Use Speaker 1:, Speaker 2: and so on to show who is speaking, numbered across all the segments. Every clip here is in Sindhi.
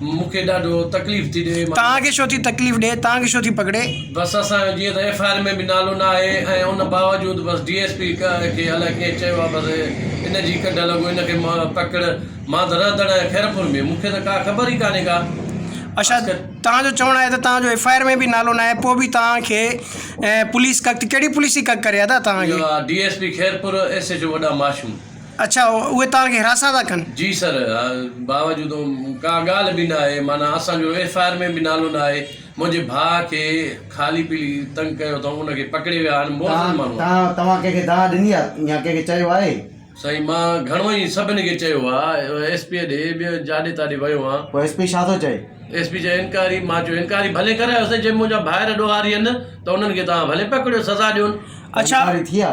Speaker 1: مون کي ڏاڍو تڪليف ٿي ڏي. توهان کي ڇو ٿي تڪليف
Speaker 2: ڏي. توهان کي ڇو ٿي پڪڙي. بس اسان جو جيئن
Speaker 1: ته ايف آء آر ۾ به نالو نه آهي ۽ ان باوجود بس ڊي ايس پي کي الائي ڪنهن چيو آهي بس ان جي ڪڍ لڳو ان کي پڪڙ مان ته رهندڙ آهيان خيرپور ۾ مون کي ته ڪا خبر ئي ڪانهي ڪا اڇا خاص ڪري
Speaker 2: توهان جو چوڻ آهي ته توهان جو ايف آء آر ۾ به نالو نه آهي پوء به توهان کي پوليس ڪڪ ڪهڙي پوليس ٿي ڪڪ ڪري ادا توهان کي. اها D S P Khairpur
Speaker 1: S H O وڏا ماشوم. اڇا اهي
Speaker 2: توهان کي حراسان ٿا ڪن. جي سر
Speaker 1: باوجود ڪا ڳالهه به ناهي معنيٰ اسان جو ايف آء آر ۾ به نالو ناهي منهنجي ڀاء کي خالي پيلي تنگ ڪيو اٿئون ان کي پڪڙي ويا آهن موذن ماڻهو آهي. توهان ڪنهن
Speaker 3: کي دانهن ڏني آهي يا ڪنهن کي چيو آهي. سائين مان
Speaker 1: گهڻو ئي سڀني کي چيو آ ايس پي ڏي ٻيو جاڏي تاڏي ويو آ. پوء ايس پي ڇا ٿو چئي.
Speaker 3: ايس پي چئي انڪوائري
Speaker 1: مان چيو انڪوائري ڀلي ڪرايو سائين جي منهنجا ڀائر ڏوهارين ته انهن کي توهان ڀلي پڪڙيو سزا ڏيون. اڇا انڪوائري ٿي آ.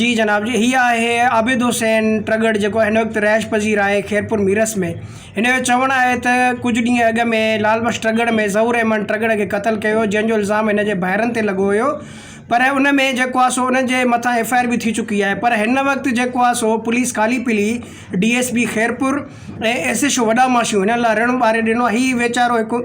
Speaker 1: جي جناب جي هي
Speaker 2: آهي عابد حسين ٽرڳڙ جيڪو هن وقت رهائش پذير آهي خيرپور ميرس ۾ هن جو چوڻ آهي ته ڪجهه ڏينهن اڳ ۾ لال بخش ٽرڳڙ ۾ ظهور احمد ٽرڳڙ کي قتل ڪيو هيو جنهن جو الزام هن جي ڀائرن تي لڳو هيو پر ان ۾ جيڪو آهي سو انهن جي مٿان ايف آء آر به ٿي چڪي آهي پر هن وقت جيڪو آهي سو پوليس ڪالي پلي D S P Khairpur ۽ S H O وڏا ماشيون هنن لا رڻ ٻاري ڏنو آهي هي ويچارو هڪ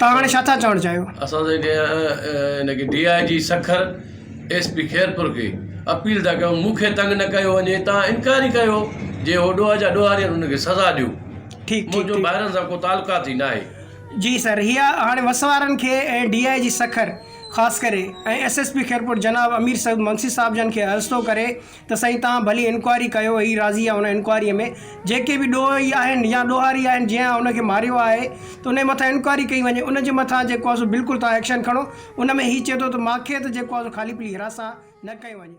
Speaker 2: توهان هاڻي ڇا ٿا چوڻ چاهيو؟ اسان ته
Speaker 1: ان کي D I G Sukkur, S P Khairpur کي اپيل ٿا ڪيون مون کي تنگ نه ڪيو وڃي توهان انڪار ئي ڪيو جي هو ڏوهه جا ڏوهاري آهن ان کي سزا ڏيو منهنجو ڀائرن سان ڪو تعلقات ئي ناهي. جي سر هي هاڻي
Speaker 2: وس وارن کي ۽ ڊي آء جي سکر خاص ڪري ۽ ايس ايس پي خيرپور جناب امير سعود منگسي صاحب جن کي عرض ٿو ڪري ته سائين توهان ڀلي انڪوائري ڪيو هي راضي آهي ان انڪوائري ۾ جيڪي به ڏوهي آهن يا ڏوهاري آهن جنهن ان کي ماريو آهي ته ان جي مٿان انڪوائري ڪئي وڃي ان جي مٿان جيڪو آهي سو بلڪل توهان ايڪشن کڻو ان ۾ هي چئي ٿو ته ماکي ته جيڪو آهي سو خالي پلي هراس سان نه ڪيو وڃي.